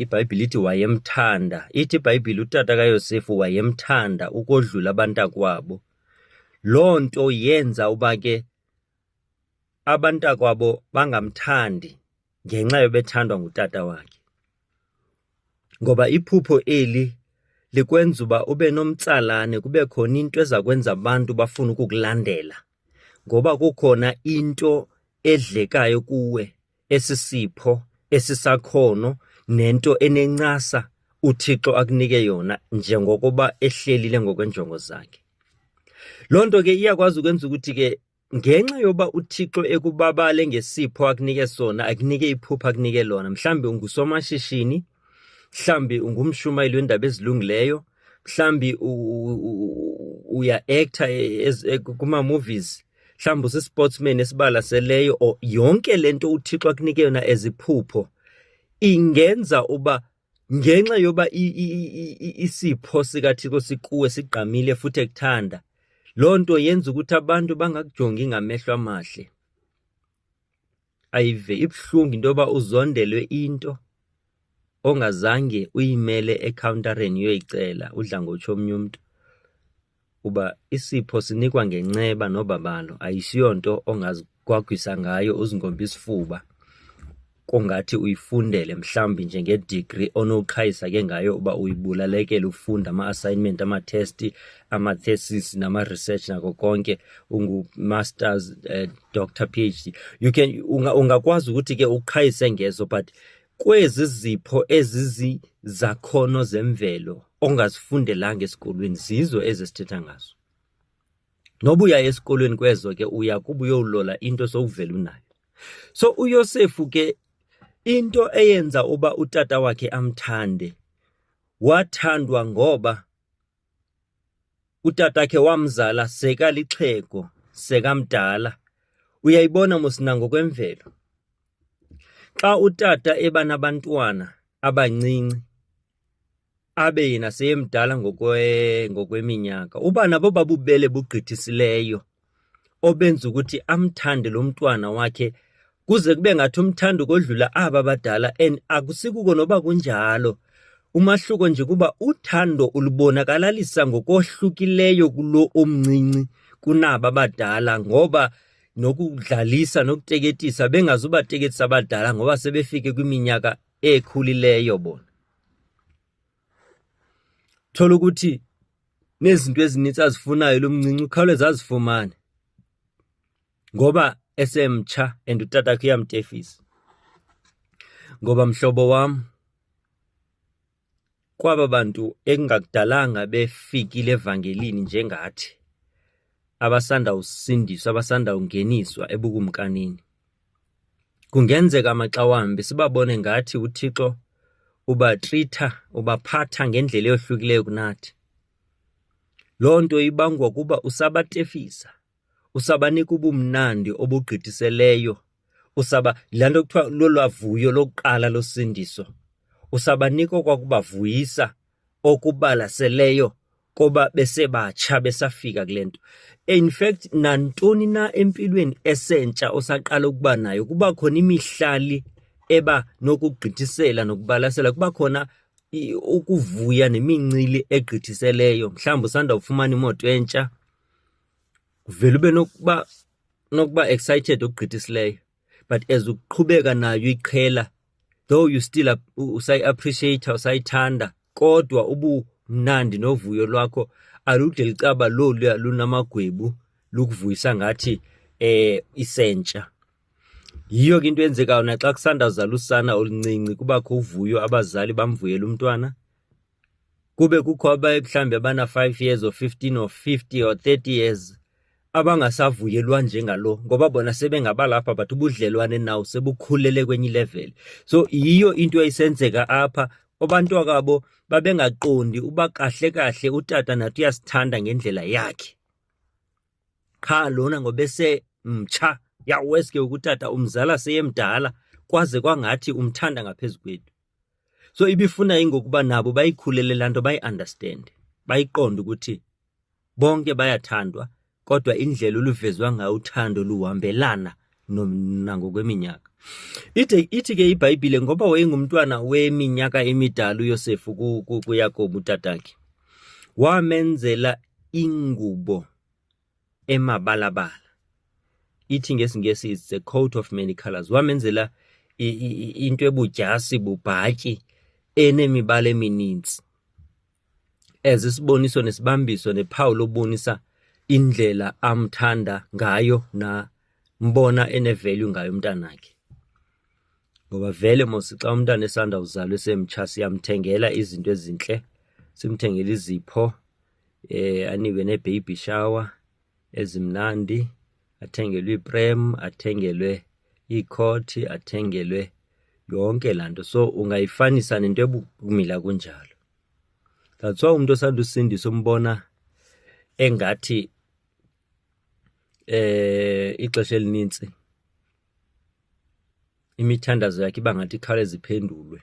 IBhayibhile ithi wayemthanda. Ithi iBhayibhile utata kaYosefu wayemthanda ukodlula abantakwabo. Loo nto yenza uba ke abantakwabo bangamthandi ngenxa yobethandwa ngutata wakhe. Ngoba iphupho eli likwenza uba ube nomtsalane kube khona into eza kwenza abantu bafune ukukulandela. ngoba kukhona into edlekayo kuwe esisipho esisakhono nento enencasa uThixo akunike yona njengokuba ehlelile ngokwenjongo zakhe loo nto ke iyakwazi ukwenza ukuthi ke ngenxa yoba uthixo ekubabale ngesipho akunike sona akunike iphupha akunike lona mhlawumbi ungusomashishini mhlawumbi ungumshumayeli wendaba ezilungileyo mhlawumbi uya-acta e, e, kuma-movies mhlawumbi usisportsman esibalaseleyo or yonke le nto uthixo akunike yona eziphupho ingenza uba ngenxa yoba isipho sikathixo sikuwe sigqamile futhi ekuthanda loo nto yenza ukuthi abantu bangakujongi ngamehlo amahle ayive ibuhlungu into yoba uzondelwe into ongazange uyimele ekhawuntareni uyoyicela udla ngotsho omnye umntu uba isipho sinikwa ngenceba nobabalo ayisiyonto ongazigwagwisa ngayo uzingombe isifuba kongathi uyifundele mhlawumbi njengedigri onoqhayisa ke ngayo uba uyibulalekele ufunda ama-assignment amathesti amathesis nama-research nako konke ungu-masters uh, eh, doctor p h d you can ungakwazi unga ukuthi ke uqhayise ngezo but kwezi zipho ezizizakhono zemvelo ongazifundelanga esikolweni zizo ezisithetha ngazo noba uya esikolweni kwezo ke uya kuba uyowulola into sowuvela unayo so uyosefu ke into eyenza uba utata wakhe amthande wathandwa ngoba Utatakhe wamzala seka lixhego sekamdala. Uyayibona mos nangokwemvelo. Xa utata eba nabantwana abancinci abe yena seyemdala ngokweminyaka uba nabo babubele bugqithisileyo obenza ukuthi amthande lo mntwana wakhe kuze kube ngathi umthanda ukodlula aba badala and akusikuko noba kunjalo umahluko nje kuba uthando ulubonakalalisa ngokohlukileyo kulo omncinci kunaba badala ngoba nokudlalisa nokuteketisa bengazubateketisa abadala ngoba sebefike kwiminyaka ekhulileyo bona thola ukuthi nezinto ezininzi azifunayo lo mncinci ukhawuleza azifumane ngoba esemtsha and utata wakhe uyamtefisa ngoba mhlobo wam kwaba bantu ekungakudalanga befikile evangelini njengathi abasanda usindiswa abasanda ungeniswa ebukumkanini Kungenzeka maxa wambi sibabone ngathi uThixo ubatritha ubaphatha ngendlela eyohlukileyo kunathi. Loo nto ibangwa kuba usabatefisa, usabanika ubumnandi obugqithiseleyo, usaba laa nto kuthiwa lolwavuyo lokuqala losindiso, usabanika okwakubavuyisa okubalaseleyo koba besebatsha besafika kule nto in fact nantoni na empilweni esentsha osaqala ukuba nayo kuba khona imihlali eba nokugqithisela nokubalasela kuba khona ukuvuya nemincili egqithiseleyo mhlawumbi usanda kufumana imoto entsha uvele ube nokuba nokuba excited okugqithisileyo but as uqhubeka nayo iqhela though you still usayi-appreciate usayithanda kodwa ubumnandi novuyo lwakho alude licaba loluya lunamagwebu lukuvuyisa ngathi eh isentsha yiyo ke into eyenzekayo naxa kusandazala usana oluncinci kubakho uvuyo abazali bamvuyela umntwana kube kukho abayebuhlambi abana-five years or fifteen or fifty or thirty years abangasavuyelwa njengalo ngoba bona sebengabalapha but ubudlelwane nawo sebukhulele kwenye ileveli so yiyo into eyisenzeka apha abantu akabo babengaqondi uba kahle kahle utata nathi uyasithanda ngendlela yakhe qha lona ngobese mtsha yaweske ukutata umzala seyemdala kwaze kwangathi umthanda ngaphezu kwethu so ibifuna ingokuba nabo bayikhulele laa nto bayiunderstande bayiqonde ukuthi bonke bayathandwa kodwa indlela oluvezwa ngayo uthando luhambelana nangokweminyaka ithi ithi ke ibhayibhile ngoba wayengumntwana weminyaka emidala uyosefu kuyakobo utatakhe wamenzela ingubo emabalabala ithi ngesingesi is the coat of many colors wamenzela into ebudyasi bubhatyi enemibala emininzi as isiboniso nesibambiso nephawu lobonisa indlela amthanda ngayo na mbona enevalue ngayo umntanakhe ngoba vele mos xa umntana esanda uzalwa esemtsha siyamthengela izinto ezintle simthengela izipho eh anibe ne baby shower ezimnandi athengelwe iprem athengelwe iikhothi athengelwe yonke laa nto so ungayifanisa nento ebukumila kunjalo that's why umntu osanda usindisa umbona engathi eh ixesha elinintsi imithandazo yakhe iba ngathi ikhawuleze iphendulwe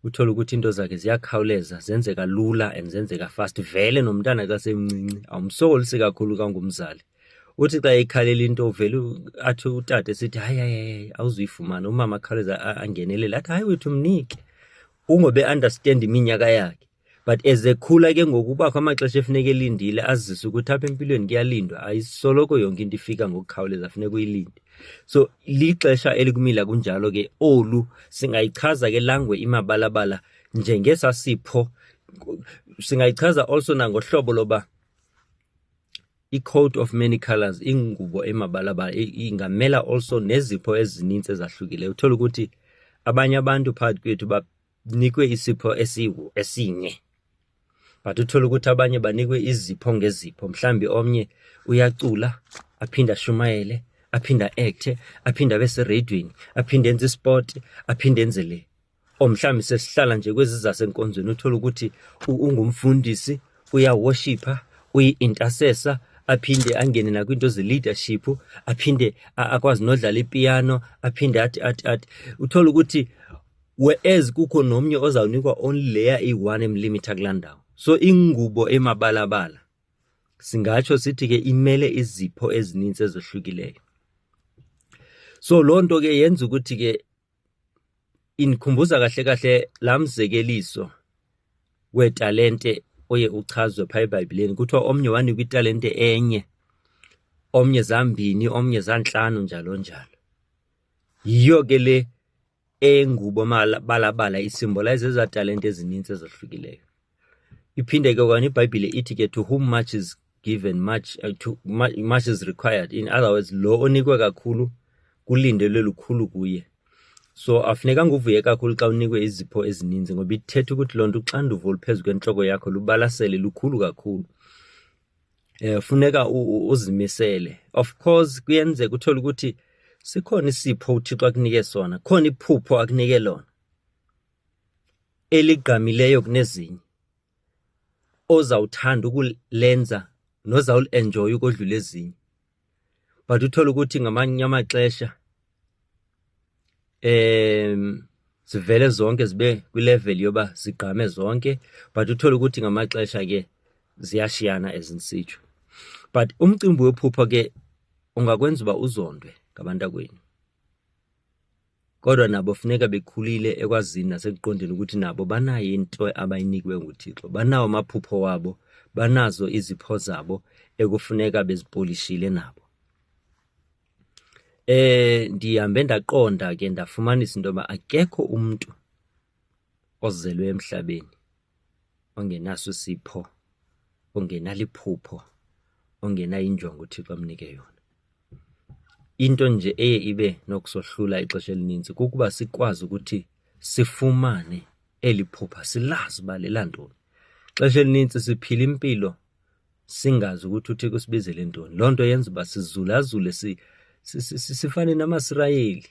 uthole ukuthi into zakhe ziyakhawuleza zenzeka lula and zenzeka fast vele nomntana kasemncinci awumsokolisi kakhulu kangumzali uthi xa ekhalela into uvele athi utata esithi hayi hayi awuzuyifumana umama akhawuleza angenelele athi hayi wethu mnike ungobe understand iminyaka yakhe but as ekhula ke ngoku ubakho amaxesha efuneka elindile azise ukuthi apha empilweni kuyalindwa ayisoloko yonke into ifika ngokukhawuleza funeka uyilinde so lixesha elikumila kunjalo ke olu singayichaza ke langwe imabalabala njengesasipho singayichaza also nangohlobo loba i-coat of many colors ingubo emabalabala ingamela also nezipho ezininzi ezahlukileyo uthola ukuthi abanye abantu phakathi kwethu banikwe isipho esiwu esinye but uthole ukuthi abanye banikwe izipho ngezipho mhlambi omnye uyacula aphinde ashumayele aphinde aekthe aphinde abe seradweni aphinde enze isport aphinde enze le or mhlawumbi sesihlala nje kwezi zasenkonzweni uthole ukuthi ungumfundisi uyawoshipha uyi-intercessor aphinde angene nakwinto ze-leadership aphinde akwazi nodlala ipiano aphinde athi athi athi uthole ukuthi whereas kukho nomnye ozawunikwa only leya iyi-one emlimitha kulaa ndawo so ingubo emabalabala singatsho sithi ke imele izipho ezininzi ezohlukileyo so loo nto ke yenza ukuthi ke indikhumbuza kahle kahle laa mzekeliso weetalente oye uchazwe phaa ebhayibhileni kuthiwa omnye wanikwa italente enye omnye zambini omnye zantlanu njalo njalo yiyo ke le engubo balabala isimbolayiza ezaa talente ezininzi ezahlukileyo iphinde ke okanye ibhayibhile ithi ke to whom much is given much, uh, to, much is required in other words lo onikwe kakhulu kulindelwe lukhulu kuye so afunekanga uvuye kakhulu xa unikwe izipho ezininzi ngoba ithetha ukuthi loo nto uxanduva oluphezu kwentloko yakho lubalasele lukhulu kakhulu eh funeka uzimisele of course kuyenzeka uthola ukuthi sikhona isipho uThixo akunike sona khona iphupho akunike lona eligqamileyo kunezinye ozawuthanda ukulenza nozawulenjoya ukodlula ezinye but uthole ukuthi ngamanye amaxesha um zivele zonke zibe kwilevel yoba zigqame zonke but uthole ukuthi ngamaxesha ke ziyashiyana ezinsitsho but umcimbi wephupha ke ungakwenza uba uzondwe ngabantakwenu Kodwa nabo funeka bekhulile ekwazini nasekuqondeni ukuthi nabo banayo into abayinikiwe nguThixo, banawo amaphupho wabo, banazo izipho zabo ekufuneka bezipolishile nabo. Eh ndihambe ndaqonda ke ndafumanisa into yoba akekho umntu ozelwe emhlabeni. ongenaso isipho ongenaliphupho ongenayo injongo uthixo amnike yona into nje eye ibe nokusohlula ixesha elininzi kukuba sikwazi ukuthi sifumane eli phupha silazi uba lelantoni xesha elininzi siphila impilo singazi ukuthi uthixo usibizele ntoni loo nto yenza uba sizulazule si, sifane namasirayeli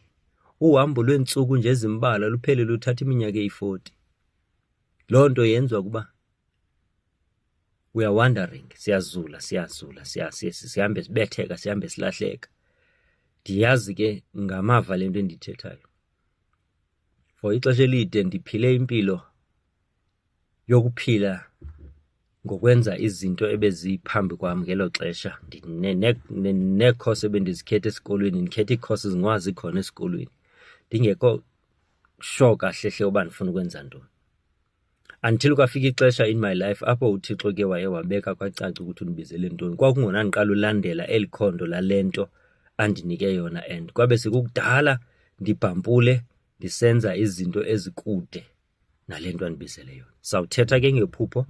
uhambo lweentsuku nje ezimbalwa luphele luthatha iminyaka eyi-40 Loo nto yenziwa kuba we are wandering siyazula siyazula sihambe sibetheka sihambe silahleka ndiyazi ke ngamava le nto endiyithethayo for ixesha elide ndiphile impilo yokuphila ngokwenza izinto ebeziphambi kwam ngelo xesha neekhosi ebendizikhetha esikolweni ndikhetha iikhosi zingawazi khona esikolweni ndingekho sure kahle hle uba ndifuna ukwenza ntoni until kwafika ixesha in my life apho uthixo ke waye wabeka kwacaca ukuthi undibizele ntoni kwakungona ndiqala ulandela eli khondo lale nto andinike yona and kwabe sekukudala ndibhampule ndisenza izinto ezikude nale nto andibizele yona sawuthetha ke ngephupho um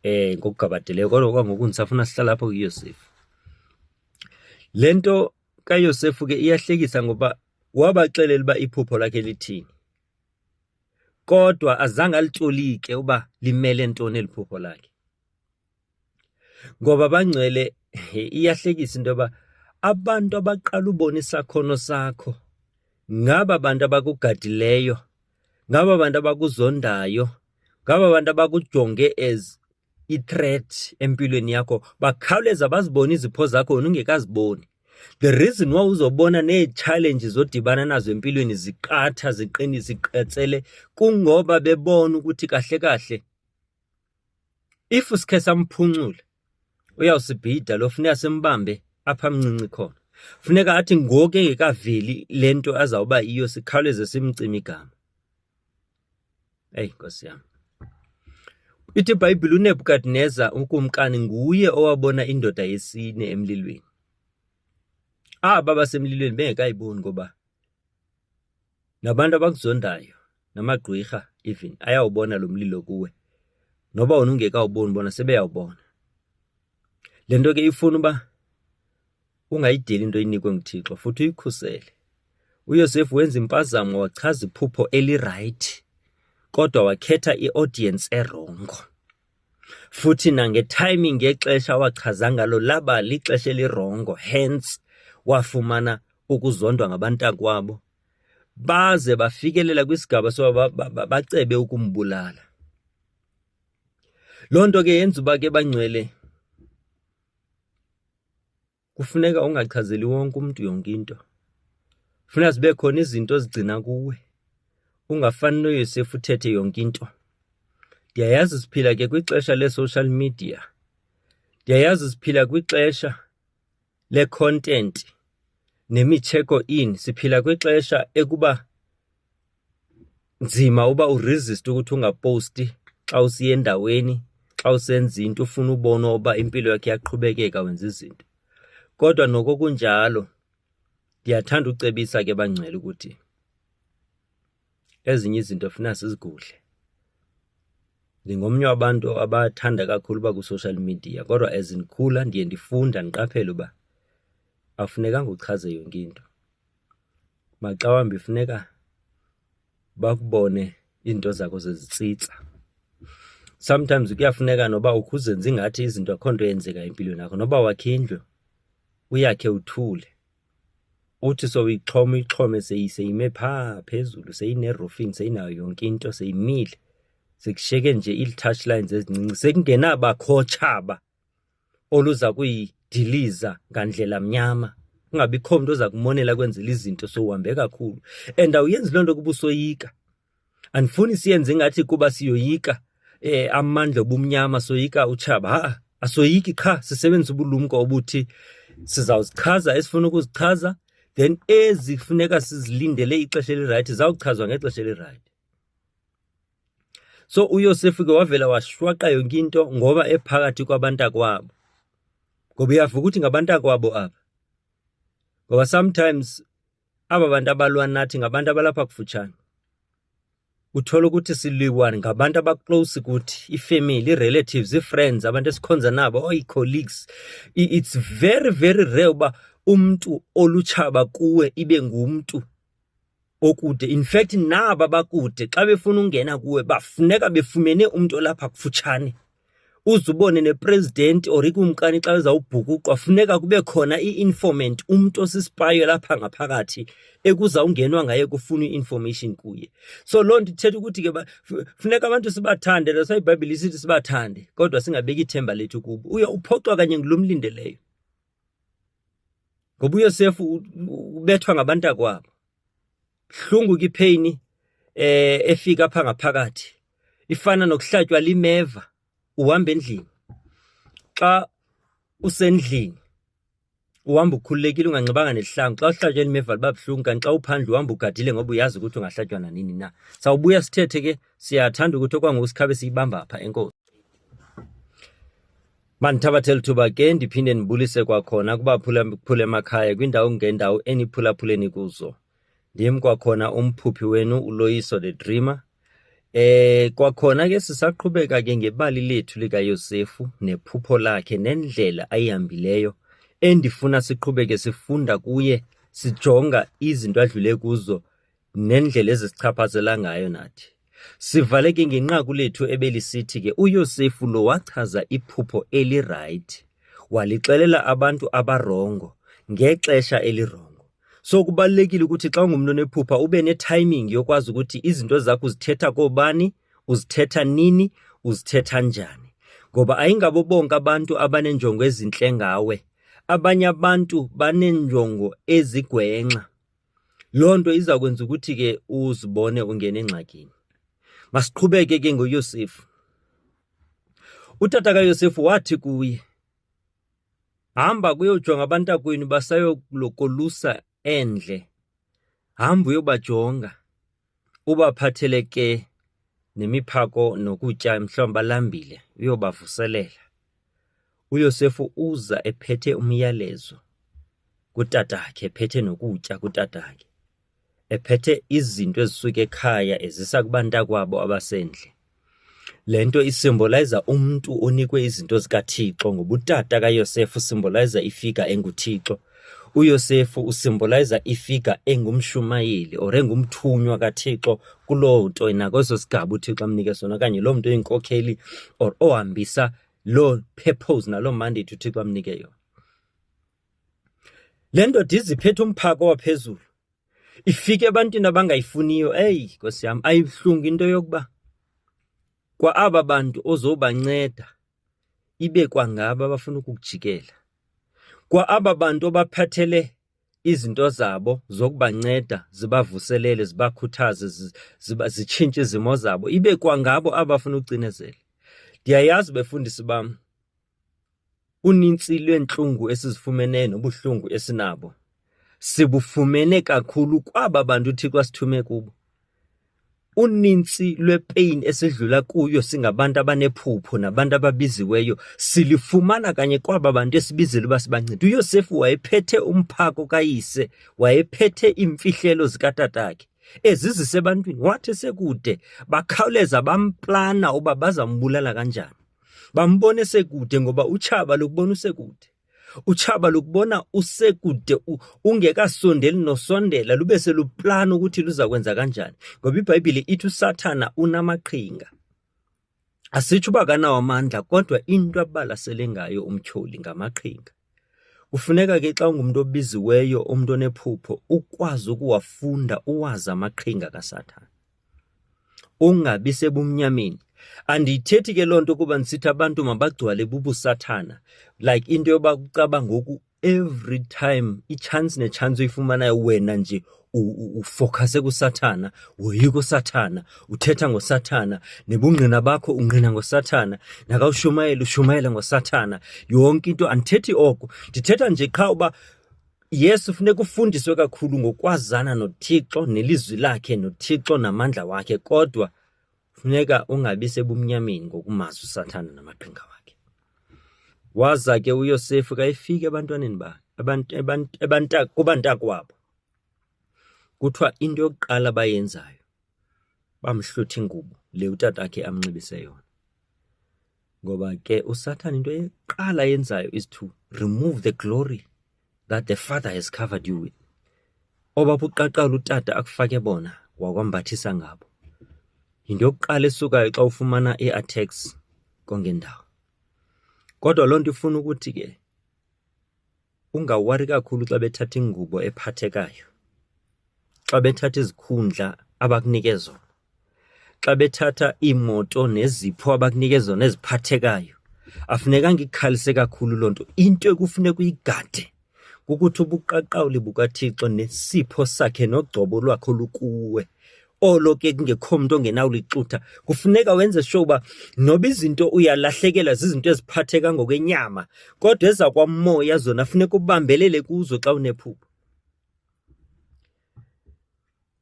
eh, ngokugabadeleyo kodwa kwangoku ndisafuna sihlala apho kuyosefu le nto kayosefu ke iyahlekisa ngoba Wabaxelela uba iphupho lakhe lithini, kodwa azange alitolike uba limele ntoni eli phupho lakhe. Ngoba bangcwele iyahlekisa into yoba abantu abaqala ubona isakhono sakho ngaba bantu abakugadileyo ngaba bantu abakuzondayo ngaba bantu abakujonge as i-threat empilweni yakho bakhawuleza bazibone izipho zakho wena ungekaziboni the reason why uzobona nee-challenge zodibana nazo empilweni ziqatha ziqinise iqetsele kungoba bebona ukuthi kahle kahle If sikhe samphuncule uyawusibhida lo funeka simbambe apha mncinci khona. Funeka athi ngoku engekaveli le nto azawuba iyo sikhawuleze simcime igama. Eyi nkosi yam. Ithi iBhayibhile uNebukadneza ukumkani nguye owabona indoda yesine emlilweni. Aba basemlilweni bengekayiboni ngoba Nabantu abakuzondayo namagqwirha even ayawubona lo mlilo kuwe noba wona ungekawuboni bona sebeyawubona le nto ke ifuna uba ungayideli into inikwe nguthixo futhi uyikhusele uyosefu wenza impazamo wachaza iphupho elirayithi kodwa wakhetha iaudience erongo futhi nangetiming ngexesha awachaza ngalo laba lixesha elirongo hence wafumana ukuzondwa ngabantakwabo baze bafikelela kwisigaba soba bacebe ukumbulala loo nto ke yenza uba ke bangcwele kufuneka ungachazeli wonke umntu yonke into funeka zibe khona izinto ezigcina kuwe ungafani noyosefu uthethe yonke into ndiyayazi siphila ke kwixesha le-social media ndiyayazi siphila kwixesha le-content nemitsheko in siphila kwixesha ekuba nzima uba uresiste ukuthi ungaposti xa usiya endaweni xa usenza into ufuna ubona uba impilo yakhe iyaqhubekeka wenza izinto kodwa noko kunjalo ndiyathanda ucebisa ke bangcwele ukuthi ezinye izinto funa sizigudle ndingomnye wabantu abathanda kakhulu uba kwi-social media kodwa as ndikhula ndiye ndifunda ndiqaphele uba afunekanga uchaze yonke into maxa wambi funeka bakubone iinto zakho zezitsitsa sometimes kuyafuneka noba ukhuzenze ingathi izinto akho nto eyenzeka empilweni yakho noba wakhe indlu uyakhe uthule uthi sowuyixhoma uyixhome seyime phaa phezulu seyinerofini seyinayo yonke into seyimile sekushiyeke nje ii-touch lines ezincinci sekungenabakhotsha ba oluza kuyidiliza ngandlela mnyama kungabikho mntu oza kumonela kwenzela izinto sowuhambe kakhulu and awuyenzi loo nto kuba usoyika andifuni siyenze ingathi kuba siyoyika eh amandla obumnyama soyika utshaba ha asoyiki qha sisebenzisa ubulumko obuthi sizawuzichaza esifuna ukuzichaza then ezifuneka sizilindele ixesha elirayithi zawuchazwa ngexesha elirayithi So uYosefu ke wavela washwaqa yonke into ngoba ephakathi kwabantakwabo. Ngoba uyavuka ukuthi ngabantakwabo aba. Ngoba sometimes aba bantu abalwa nathi ngabantu abalapha kufutshane. Uthola ukuthi siliwa ngabantu abaclose kuthi, ifamily, irelatives, ifriends, abantu esikhonza nabo, or icolleagues. It's very very rare uba umuntu olutshaba kuwe ibe ngumntu okude in fact naba bakude xa befuna ungena kuwe bafuneka befumene umntu olapha kufutshane uze ubone nepresident or ikumkani xa ezawubhukuqwa funeka kube khona i-informant umntu osisipayo lapha ngaphakathi ekuza ungenwa ngaye kufuna i-information kuye so loo nto ithetha ukuthi ke funeka abantu sibathande that's why ibhayibhile isithi sibathande kodwa singabeki ithemba lethu kubo uye uphoxwa kanye ngulo mlindeleyo ngoba uyosefu ubethwa ngabantu akwabo hlungu kipheyini eh efika pha ngaphakathi ifana nokuhlatywa limeva uhamba endlini xa usendlini uhamba ukhululekile unganxibanga nesihlangu xa uhlatywa elimeva liba buhlungu kanti xa uphandle uhamba ugadile ngoba uyazi ukuthi ungahlatywa nanini na sawubuya sithethe ke siyathanda ukuthi okwangoku sikhabe siyibamba pha enkosi Mandithabathe lithuba ke ndiphinde ndibulise kwakhona kubaphulaphula emakhaya kwindawo ngendawo eniphulaphuleni kuzo ndim kwakhona umphuphi wenu uloyiso the dreamer eh kwakhona ke sisaqhubeka ke ngebali lethu likayosefu nephupho lakhe nendlela ayihambileyo endifuna siqhubeke sifunda kuye sijonga izinto adlule kuzo nendlela ezisichaphazela ngayo nathi. Sivaleke ngenqaku lethu ebelisithi ke uYosefu lo wachaza iphupho elirayithi, walixelela abantu abarongo ngexesha elirongo. So kubalulekile ukuthi xa ungumntu onephupha ube ne-timing yokwazi ukuthi izinto zakho uzithetha koobani, uzithetha nini, uzithetha njani. Ngoba ayingabo bonke abantu abaneenjongo ezintle ngawe. Abanye abantu baneenjongo ezigwenxa. Loo nto iza kwenza ukuthi ke uzibone ungena engxakini. Masiqhubeke ke ngoYosefu. Utata kaYosefu wathi kuye, Hamba kuyojonga abantakwenu basayokulusa endle. Hamba uyobajonga. Ubaphathele ke nemiphako nokutya mhlawumbi balambile uyobavuselela. UYosefu uza ephethe umyalezo kutatakhe, ephethe nokutya kutatakhe, ephethe izinto ezisuka ekhaya ezisa kubantakwabo abasendle. Le nto isimbolayiza umntu onikwe izinto zikaThixo ngobutata kaYosefu usimbolayiza ifiga enguThixo. UYosefu usimbolayiza ifiga engumshumayeli or engumthunywa kaThixo kuloo nto nakweso sigaba uThixo amnike sona okanye loo mntu oyinkokheli or ohambisa loo purpose naloo mandate uThixo amnike yona. Le ndoda iziphethe umphako waphezulu ifike ebantwini abangayifuniyo. Eyi Nkosi yam, ayibuhlungu into yokuba kwa aba bantu ozobanceda ibe kwangaba abafuna ukukujikela, kwa aba bantu obaphathele izinto zabo zokubanceda zibavuselele, zibakhuthaze, zitshintshe izimo zabo, ibe kwangabo abafuna ukucinezela. Ndiyayazi befundisi bam Uninzi lweentlungu esizifumeneyo nobuhlungu esinabo sibufumene kakhulu kwaba bantu uThixo asithume kubo. Uninzi lwepain esidlula kuyo singabantu abanephupho nabantu ababiziweyo silifumana kanye kwaba bantu esibizile uba sibancede. UYosefu wayephethe umphako kayise, wayephethe iimfihlelo zikatatakhe ezizise ebantwini, wathi sekude bakhawuleza bamplana uba bazambulala kanjani. bambona esekude ngoba utshaba lokubona usekude utshaba lokubona usekude ungekasondeli nosondela lube seluplana ukuthi luza kwenza kanjani ngoba ibhayibhile ithi usathana unamaqhinga asitsho uba kanawo amandla kodwa into abalasele ngayo umtyholi ngamaqhinga Kufuneka ke xa ungumntu obiziweyo umntu onephupho ukwazi ukuwafunda uwazi amaqhinga kaSathana. Ungabi sebumnyameni. Andiyithethi ke loo nto ukuba ndisithi abantu mabagcwale bubusathana like into yoba kucaba ngoku every time i-chance ne-chance oyifumanayo wena nje ufokhase kusathana woyika usathana uthetha ngosathana nebungqina bakho ungqina ngosathana nakawushumayela ushumayela ngosathana yonke into andithethi oko ndithetha nje qha uba yesu funeka ufundiswe kakhulu ngokwazana nothixo nelizwi lakhe nothixo namandla wakhe kodwa funeka ungabi sebumnyameni ngokumazi usathana namaqhinga wakhe waza ke uyosefu kayefika ebantwaneni bakhe kubantakwabo Kuthiwa into yokuqala abayenzayo bamhlutha ingubo le utatakhe amnxibise yona ngoba ke usathane into eqala yenzayo is to remove the glory that the father has covered you with obapha uqaqala utata akufake bona wakwambathisa ngabo yinto yokuqala esukayo xa ufumana i-attacks kongendawo kodwa loo nto ifuna ukuthi ke Ungawari kakhulu xa bethatha ingubo ephathekayo, xa bethatha izikhundla abakunike zona, xa bethatha iimoto nezipho abakunike zona eziphathekayo. Afunekanga ikhalise kakhulu loo nto. Into ekufuneka uyigade kukuthi ubuqaqawuli bukaThixo nesipho sakhe nogcobo lwakhe olukuwe olo ke kungekho mntu ongenawulixutha kufuneka wenze sure uba noba izinto uyalahlekelwa zizinto eziphatheka ngokwenyama kodwa ezakwamoya zona funeka ubambelele kuzo xa unephupho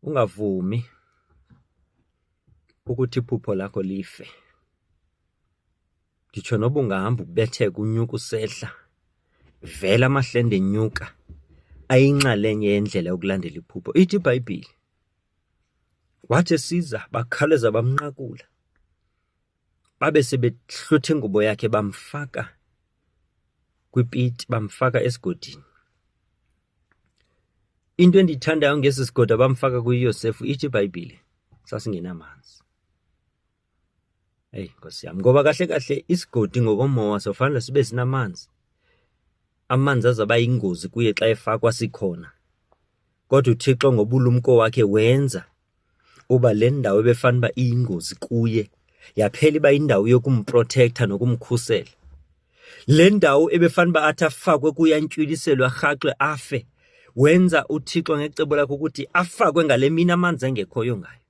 ungavumi ukuthi iphupho lakho life nditsho noba ungahamba ukubetheka unyuka usehla vela amahlende enyuka ayinxalenye yendlela yokulandela iphupho ithi ibhayibhile Wathi esiza bakhawuleza bamnqakula, babe sebehlutha ingubo yakhe bamfaka kwipiti, bamfaka esigodini. Into endiyithandayo ngesi sigodo abamfaka kuyo uYosefu ithi iBhayibhile sasingenamanzi. Eyi nkosi yam, ngoba kahle kahle isigodi ngokomowa sofanele sibe sinamanzi. Amanzi azaba yingozi kuye xa efakwa sikhona. Kodwa uThixo ngobulumko wakhe wenza uba le ndawo ebefanele uba iyingozi kuye yaphela iba yindawo yokumprotektha nokumkhusela. Le ndawo ebefanele uba athi afakwe kuyo antywiliselo arhaxwe afe wenza uThixo ngecebo lakhe ukuthi afakwe ngale mini amanzi engekhoyo ngayo.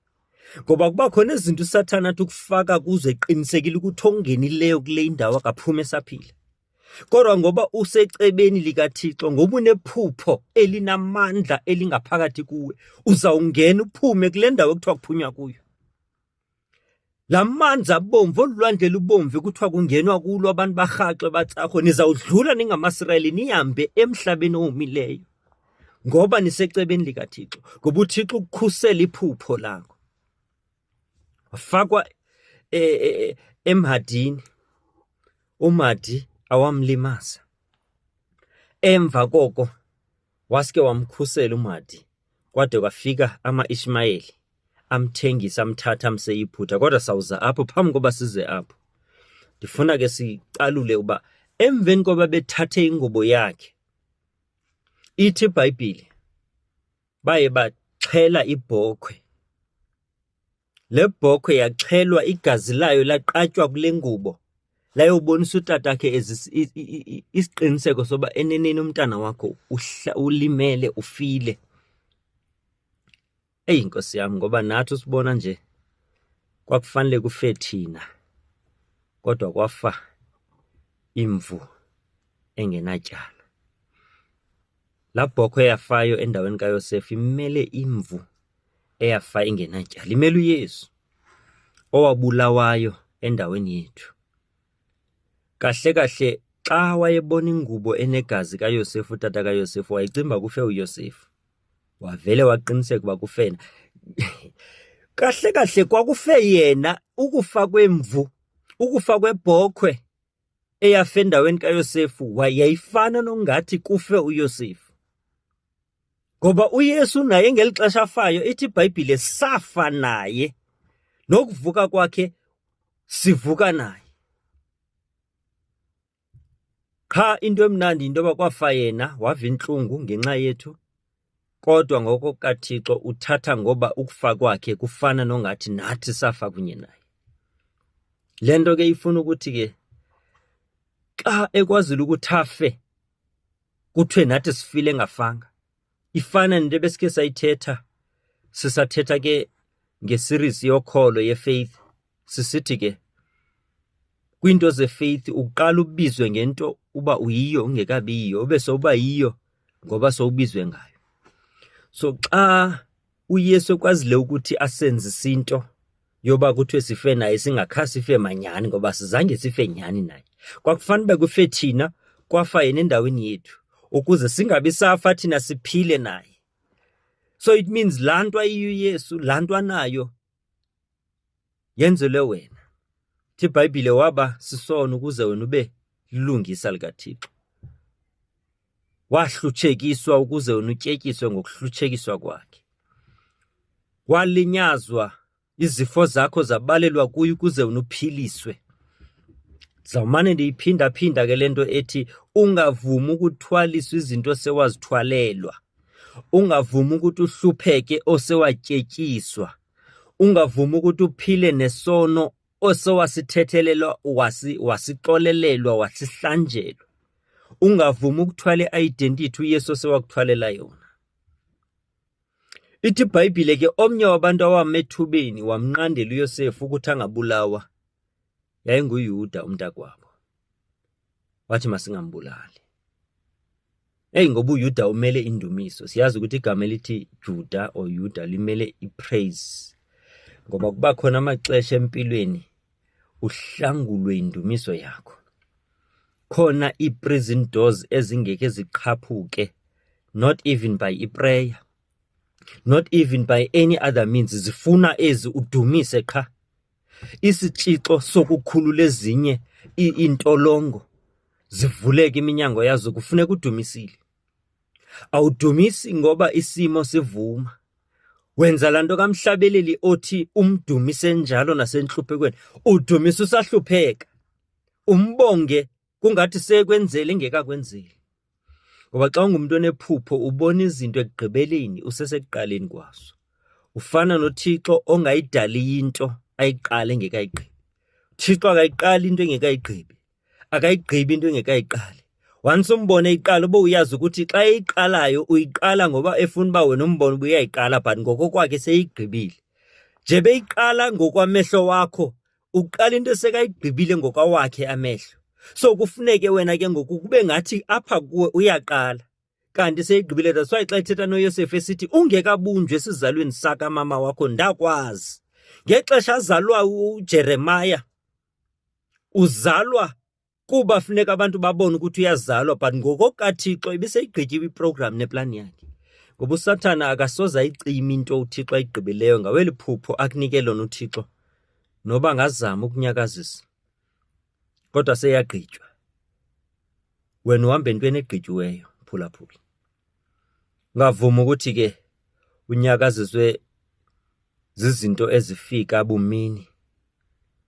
ngoba kuba khona izinto usathana athi ukufaka kuzo eqinisekile ukuthi ongenileyo kule indawo akaphuma esaphila kodwa ngoba usecebeni likathixo ngoba unephupho elinamandla elingaphakathi kuwe uzawungena uphume kule ndawo ekuthiwa kuphunywa kuyo la manzi abomvu olulwandle lubomvu kuthiwa kungenwa kulo abantu barhaxwe batsarho nizawudlula ningamasirayeli nihambe emhlabeni owomileyo ngoba nisecebeni likaThixo ngoba uThixo ukukhusela iphupho lakho wafakwa e, e, e, emhadini umadi awamlimaza emva koko waske wamkhusela umadi kwade kwafika ama-ishmayeli amthengisa amthatha amseyiphutha kodwa sawuza apho phambi koba size apho ndifuna ke sicalule uba emveni koba bethathe ingubo yakhe Ithi iBhayibhile baye baxhela ibhokhwe. Le bhokhwe yaxhelwa igazi layo laqatywa kule ngubo layobonisa utatakhe isiqiniseko soba eneneni umntana wakho ulimele ufile. Eyi nkosi yam ngoba nathi usibona nje kwakufanele kufe thina kodwa kwafa imvu engenatyala. Laa bhokhwe eyafayo endaweni kaYosefa imele imvu eyafa ingenatyala, imele uYesu owabulawayo endaweni yethu. Kahle kahle xa wayebona ingubo enegazi kaYosefa, utata kaYosefa, wayecinga uba kufe uYosefa. wavele waqiniseka uba kufena kahle kahle kwakufe yena ukufa kwemvu ukufa kwebhokhwe eyafe endaweni kayosefu wayeyifana nongathi kufe uyosefu ngoba uyesu naye ngeli xesha afayo ithi ibhayibhile safa naye nokuvuka kwakhe sivuka naye Qha into emnandi yinto yoba kwafa yena wava intlungu ngenxa yethu, kodwa ngoko kaThixo uthatha ngoba ukufa kwakhe kufana nongathi nathi safa kunye naye. Le nto ke ifuna ukuthi ke xa ekwazile ukuthi afe kuthiwe nathi sifile engafanga. ifana nento ebesike sayithetha sisathetha ke ngeseries yokholo yefaith sisithi ke kwiinto zefaith uqala ubizwe ngento uba uyiyo ungekabiyiyo ube sowuba yiyo ngoba sowubizwe ngayo so xa uyesu ekwazile ukuthi asenzise into yoba kuthiwe sife naye singakha sife manyhani ngoba sizange sife nyhani naye kwakufanele uba kufe thina kwafa yena endaweni yethu ukuze singabi safa thina siphile naye so it means laa nto ayiyo uyesu laa nto anayo yenzelwe wena thi ibhayibhile waba sisono ukuze wena ube lilungisa likathixo Wahlutshekiswa ukuze wena utyetyiswe ngokuhlutshekiswa kwakhe. Walinyazwa izifo zakho zabalelwa kuye ukuze wena uphiliswe. Zawumane ndiyiphindaphinda ke le nto ethi ungavumi ukuthwaliswa izinto sewazithwalelwa. Ungavumi ukuthi uhlupheke osewatyetyiswa. Ungavumi ukuthi uphile nesono osowasithethelelwa wasi wasixolelelwa wasihlanjelwa ungavumi ukuthwala i-identity uyesu osewakuthwalela yona Ithi iBhayibhile ke omnye wabantu awama ethubeni wamnqandela uYosefu ukuthi angabulawa yayinguYuda umntakwabo. wathi masingambulali. Eyi ngoba uYuda umele indumiso. Siyazi ukuthi igama elithi Juda or Yuda limele ipraise. Ngoba kuba khona amaxesha empilweni uhlangulwe indumiso yakho. Khona iprison doors ezingeke ziqhaphuke not even by iprayer. Not even by any other means zifuna ezi udumise qha. isitshixo sokukhulula ezinye iintolongo zivuleke iminyango yazo kufuneka udumisile awudumisi ngoba isimo sivuma wenza laa nto kamhlabeleli othi umdumise njalo nasentluphekweni udumisa usahlupheka umbonge kungathi sekwenzele ingekakwenzeli ngoba xa ungumntu onephupho ubona izinto ekugqibeleni usesekuqaleni kwazo ufana nothixo ongayidaliyo into ayiqale engekayigqibi thixo akayiqali into engekayigqibi akayigqibi into engekayiqali once umbone iqala uba uyazi ukuthi xa eyiqalayo uyiqala ngoba efuna uba wena umbone uba uyayiqala but ngokokwakhe seyigqibile nje beyiqala ngokwamehlo wakho uqala into esekayigqibile ngokwawakhe amehlo so kufuneke wena ke ngoku kube ngathi apha kuwe uyaqala kanti seyigqibile that's why xa ithetha noyosefu esithi ungekabunjwe esizalweni sakamama wakho ndakwazi ngexesha azalwa ujeremaya uzalwa kuba funeka abantu babone ukuthi uyazalwa but ngokokathixo ibiseyigqityiwe iprogram neplan yakhe ngoba usathana akasoze ayicima into uthixo ayigqibileyo ngaweli phupho akunike lona uthixo noba ngazama ukunyakazisa kodwa seyagqitywa wena uhamba entweni egqityiweyo phulaphula ngavuma ukuthi ke unyakaziswe zizinto ezifika bumini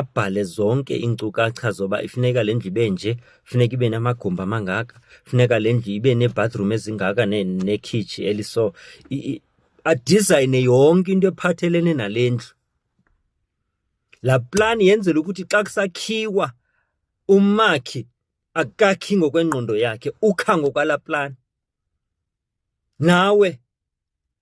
abhale zonke iinkcukacha zoba ifuneka le ndlu ibe nje funeka ibe namagumbi amangaka funeka le ndlu ibe neebathroom ezingaka nekhitshi ne eliso adizayine yonke into ephathelene nale ndlu laa plani yenzela ukuthi xa kusakhiwa umakhi akakhi ngokwengqondo yakhe ukha ngokwalaa plani Nawe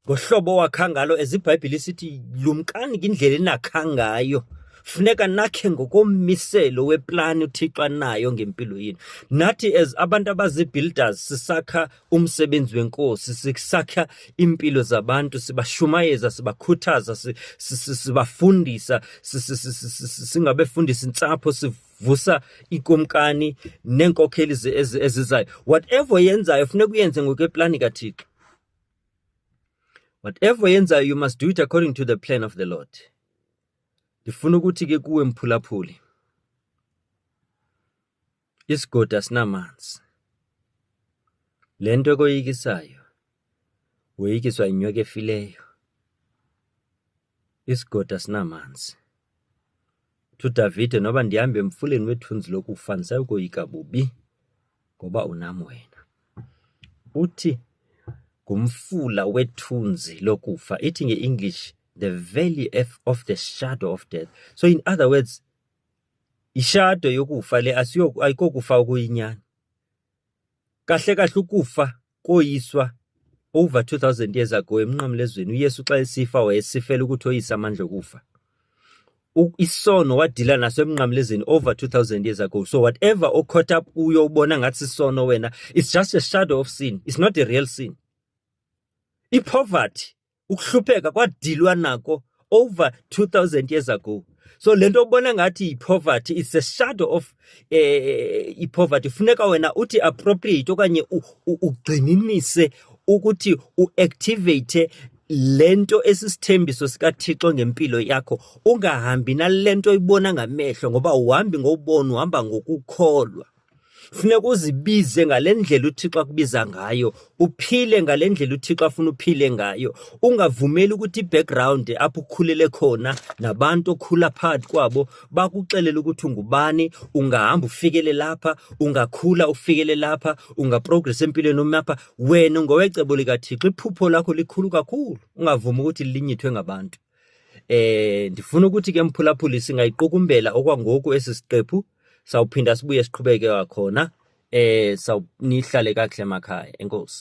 ngohlobo owakha ngalo eziBhayibhile isithi lumkani ngindlela enakha ngayo funeka nakhe ngokommiselo weplani uthixo anayo ngempilo yenu nathi as abantu abazi-builders sisakha umsebenzi wenkosi sisakha iimpilo zabantu sibashumayeza sibakhuthaza sibafundisa singabefundisa intsapho vusa ikumkani neenkokheli ezizayo whatever yenzayo funeka uyenze ngokweplani kathixo whatever yenzayo you must do it according to the plan of the lord ndifuna ukuthi ke kuwe mphulaphuli isigodi asinamanzi le nto ekoyikisayo woyikiswa yinyoka efileyo Isigoda sinamanzi. Thu Davide, noba ndihamba emfuleni wethunzi lokufa ndisayi koyika bubi ngoba unam wena. Uthi ngumfula wethunzi lokufa. Ithi nge-English the valley of the shadow of death. So in other words, ishado yokufa le ayikokufa okuyinyani. Kahle kahle ukufa koyiswa over 2000 years ago emnqamlezweni uYesu xa esifa wayesifela ukuthi oyise amandla okufa isono wadila naso emnqamlezweni over 2000 years ago so whatever o caught up uyo ubona ngathi isono wena it's just a shadow of sin it's not a real sin ipoverty ukuhlupheka kwadilwa nako over 2000 years ago so le nto ubona ngathi ipoverty it's a shadow of eh, ipoverty funeka wena uthi appropriate okanye ugxininise ukuthi uactivate lento esisithembiso sikaThixo ngempilo yakho ungahambi nalento ibona ngamehlo ngoba uhambi ngobona uhamba ngokukholwa Funeka uzibize ngale ndlela uThixo akubiza ngayo, uphile ngale ndlela uThixo afuna uphile ngayo. Ungavumeli ukuthi i-background apho ukhulele khona nabantu okhula phakathi kwabo bakuxelele ukuthi ungubani, ungahamba ufikele lapha, ungakhula ufikele lapha, ungaprogress empilweni umi apha. Wena ungowecebo likaThixo, iphupho lakho likhulu kakhulu, ungavumi ukuthi linyithwe ngabantu. Eh ndifuna ukuthi ke mphulaphuli singayiqukumbela okwangoku esi siqephu sawuphinda sibuye siqhubeke wakhona eh sawunihlale kakuhle emakhaya enkosi